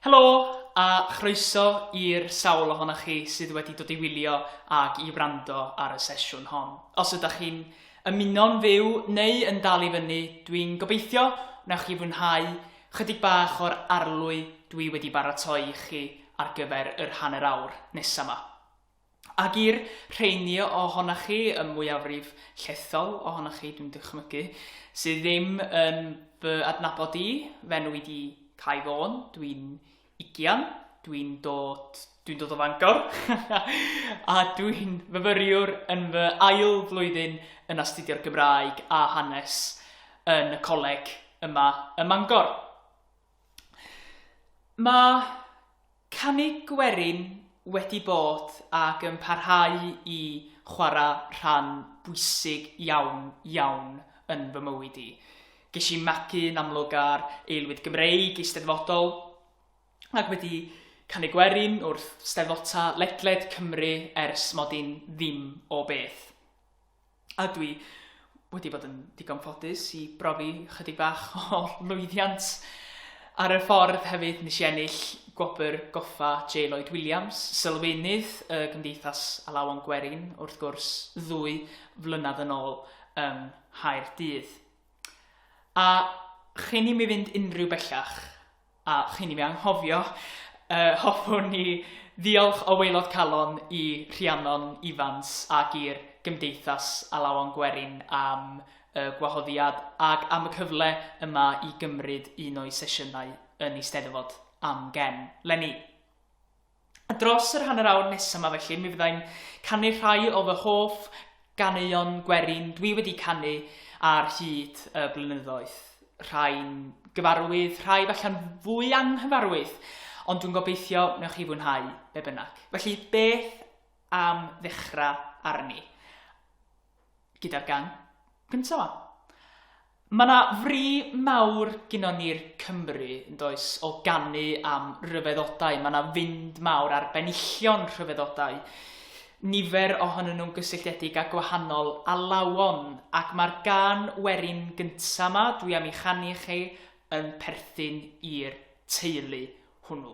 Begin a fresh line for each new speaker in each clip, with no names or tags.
Helo a chroeso i'r sawl ohonoch chi sydd wedi dod i wylio ac i wrando ar y sesiwn hon. Os ydych chi'n ymuno'n fyw neu yn dal i fyny, dwi'n gobeithio wnaewch chi fwynhau Chydig bach o'r arlwy dwi wedi baratoi i chi ar gyfer yr hanner awr nesa 'ma. Ag i'r rheiny ohonoch chi, y mwyafrif llethol ohonoch chi dwi'n dychmygu, sydd ddim yn fy adnabod i, f'enw i 'di Cai Fôn, dwi'n ugian, dwi'n dod, dwi'n dod o Fangor, a dwi'n fyfyriwr yn fy ail flwyddyn yn astudio'r Gymraeg a Hanes yn y coleg yma ym Mangor. Mae canu gwerin wedi bod ac yn parhau i chwarae rhan bwysig iawn, iawn yn fy mywyd i. Ges i magu yn amlwg ar aelwyd Gymreig eisteddfodol ac wedi canu gwerin wrth steddfota ledled Cymru ers mod i'n ddim o beth. A dwi wedi bod yn ddigon ffodus i brofi chydig bach o lwyddiant ar y ffordd hefyd. Nes i ennill gwobr goffa J Lloyd Williams, sylfaenydd y Gymdeithas Alawon Gwerin wrth gwrs, ddwy flynedd yn ôl yng Nghaerdydd. A chyn i mi fynd unrhyw bellach, a chyn i mi anghofio, yy, hoffwn i ddiolch o waelod calon i Rhiannon Ifans ac i'r Gymdeithas Alawon Gwerin am y gwahoddiad ac am y cyfle yma i gymryd un o'i sesiynau yn Eisteddfod Amgen. Leni! A dros yr hanner awr nesa 'ma felly mi fyddai'n canu rhai o fy hoff ganeuon gwerin dwi wedi canu ar hyd y blynyddoedd. Rhai'n gyfarwydd, rhai falla'n fwy anghyfarwydd, ond dwi'n gobeithio newch chi fwynhau be bynnag. Felly beth am ddechra arni? gyda'r gân gynta' 'ma. Ma' 'na fri mawr gynnon ni'r Cymry, yn does, o ganu am ryfeddodau, ma' 'na fynd mawr ar benillion rhyfeddodau, nifer ohonyn nhw'n gysylltiedig â gwahanol alawon, ac ma'r gân werin gynta' 'ma dwi am 'i chanu i chi yn perthyn i'r teulu hwnnw.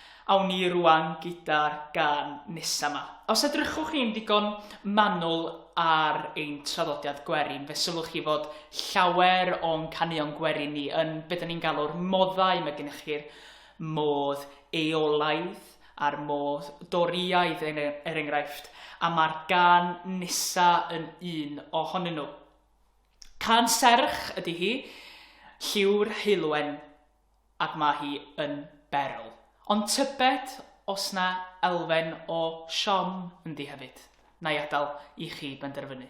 Awn ni rŵan gyda'r gân nesa 'ma. Os edrychwch chi'n ddigon manwl ar ein traddodiad gwerin, fe sylwch chi fod llawer o'n caneuon gwerin ni yn be da ni'n galw'r moddau, mae gennych chi'r modd eolaidd a'r modd Dorïaidd er, er enghraifft, a mae'r gân nesa yn un ohonyn nhw. Cân serch ydy hi, lliw'r heulwen. ac mae hi yn berl. Ond tybed os na elfen o siom ynddi hefyd? Na'i adal i chi benderfynu.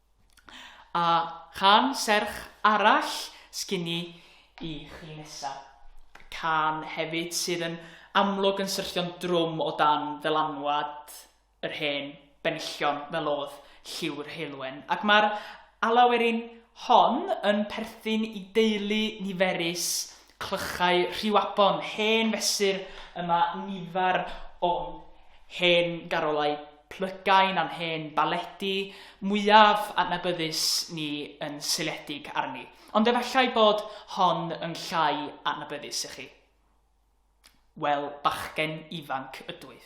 A chan serch arall sgin i i chi nesa. Cân hefyd sydd yn amlwg yn syrthio'n drwm o dan ddylanwad yr hen benillion fel o'dd Lliw'r Heulwen. Ac mae'r alawerin hon yn perthyn i deulu niferus Clychau Rhiwabon, hen fesur y mae nifer o'n hen garolau plygain a'n hen baledi mwyaf adnabyddus ni yn seiliedig arni. Ond efallai bod hon yn llai adnabyddus i chi. Wel, bachgen ifanc ydwyf.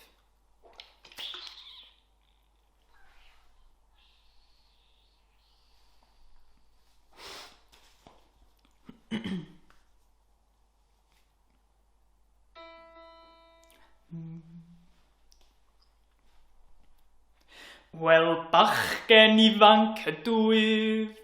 Wel, bachgen ifanc ydwyf,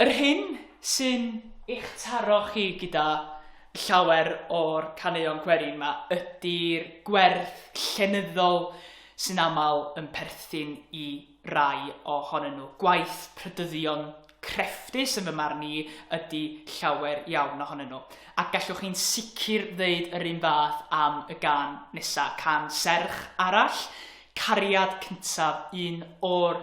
Yr hyn sy'n eich taro chi gyda llawer o'r caneuon gwerin 'ma ydi'r gwerth llenyddol sy'n aml yn perthyn i rai ohonyn nhw. Gwaith prydyddion crefftus, yn fy marn i, ydi llawer iawn ohonyn nhw. A gallwch chi'n sicr ddeud yr un fath am y gân nesa', cân serch arall, 'Cariad Cyntaf', un o'r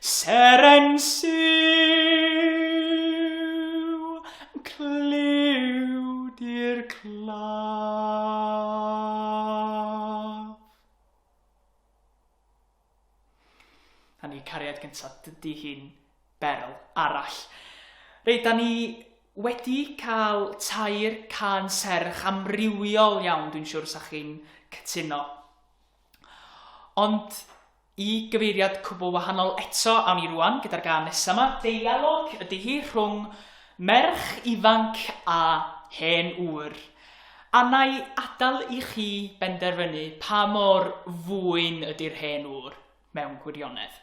Seren siw, clywd i'r claf. A ni cariad gyntaf, dydy hi'n berl arall. Reit, da ni wedi cael tair can serch amrywiol iawn, dwi'n siŵr sa chi'n cytuno. Ond i gyfeiriad cwbl wahanol eto awn ni rŵan gyda'r gân nesa 'ma. Deialog ydi hi rhwng merch ifanc a hen ŵr. A na'i adal i chi benderfynu pa mor fwyn ydi'r hen ŵr mewn gwirionedd.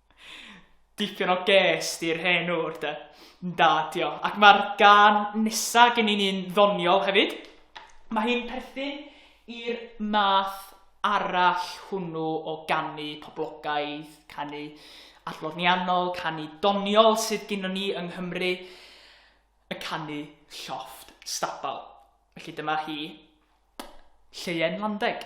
Dipyn o ges di'r hen ŵr de. Da dio. Ac mae'r gan nesa gen i'n un ddoniol hefyd. Mae hi'n perthyn i'r math arall hwnnw o ganu poblogaidd, canu adloniannol, canu doniol sydd gynnon ni yng Nghymru, y canu llofft stabal. Felly dyma hi, Lleuwen Landeg.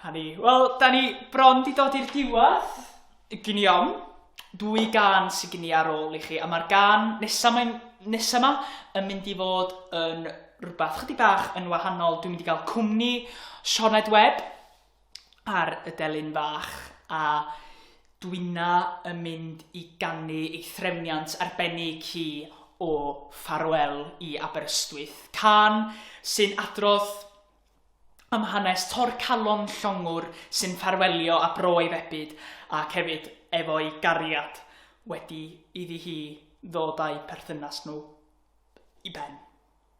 Hynny. Wel, da ni bron di dod i'r diwedd. Gynion, dwy gan sy'n gyni ar ôl i chi. A mae'r gan nesaf mae'n nesaf yma yn mynd i fod yn rhywbeth chydig bach yn wahanol. Dwi'n mynd i gael cwmni Sioned Webb. ar y delyn fach a Dwina yn mynd i ganu ei threfniant arbennig hi o Ffarwel i Aberystwyth, cân sy'n adrodd am hanes torcalon llongwr sy'n ffarwelio â bro ei febyd ac hefyd efo'i gariad wedi iddi hi ddod â'u perthynas nhw i ben.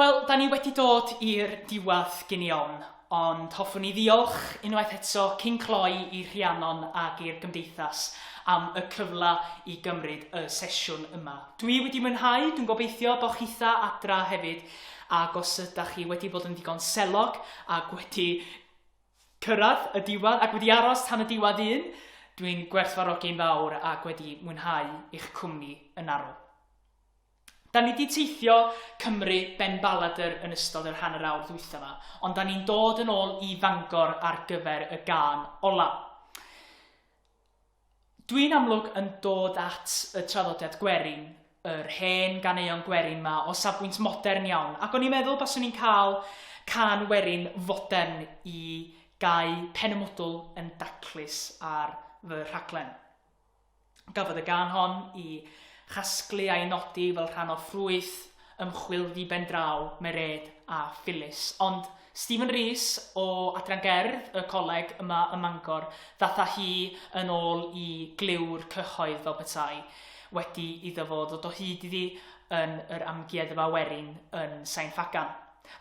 Wel, da ni wedi dod i'r diwedd gyn i ofn, ond hoffwn i ddiolch unwaith eto cyn cloi i Rhiannon ac i'r Gymdeithas am y cyfle i gymryd y sesiwn yma. Dwi wedi mwynhau, dwi'n gobeithio bod chitha adra hefyd Ac os ydach chi wedi bod yn ddigon selog ac wedi cyrraedd y diwedd ac wedi aros tan y diwedd un, dwi'n gwerthfawrogi'n fawr ac wedi mwynhau eich cwmni yn arw. Da ni wedi teithio Cymru ben baladr yn ystod yr hanner awr ddwytha ma, ond da ni'n dod yn ôl i Fangor ar gyfer y gân ola. Dwi'n amlwg yn dod at y traddodiad gwerin, yr hen ganeuon gwerin 'ma o safbwynt modern iawn, ac o'n i'n meddwl baswn i'n cael cân werin fodern i gau pen y mwdwl yn daclus ar fy rhaglen. Gafodd y gân hon i chasglu a'i nodi fel rhan o ffrwyth ymchwil ddiben draw Mereid a Phyllis. Ond Stephen Rees o Adran Gerdd y Coleg yma ym Mangor ddaeth â hi yn ôl i glyw'r cyhoedd fel petai wedi iddo fo ddod o hyd iddi yn yr Amgueddfa Werin yn Sain Ffagan.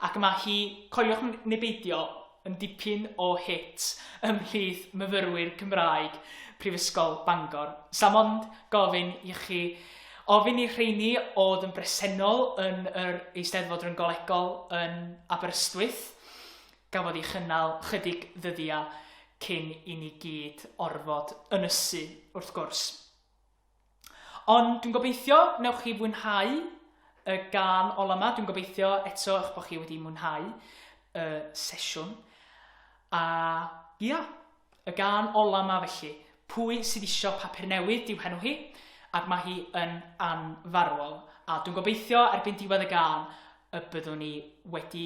Ac yma hi, coeliwch neu beidio, yn dipyn o hit ymhlith myfyrwyr Cymraeg Prifysgol Bangor. Sam ond gofyn i chi ofyn i'r rheini oedd yn bresennol yn yr Eisteddfod Ryngolegol yn Aberystwyth gafodd ei chynnal chydig ddyddiau cyn i ni gyd orfod ynysu wrth gwrs. Ond dwi'n gobeithio wnewch chi fwynhau y gân ola 'ma. Dwi'n gobeithio eto eich bod chi wedi mwynhau y sesiwn. A ia, y gân ola 'ma felly. Pwy sydd isio papur newydd yw henw hi, ac mae hi yn anfarwol. A dwi'n gobeithio erbyn diwedd y gân y byddwn ni wedi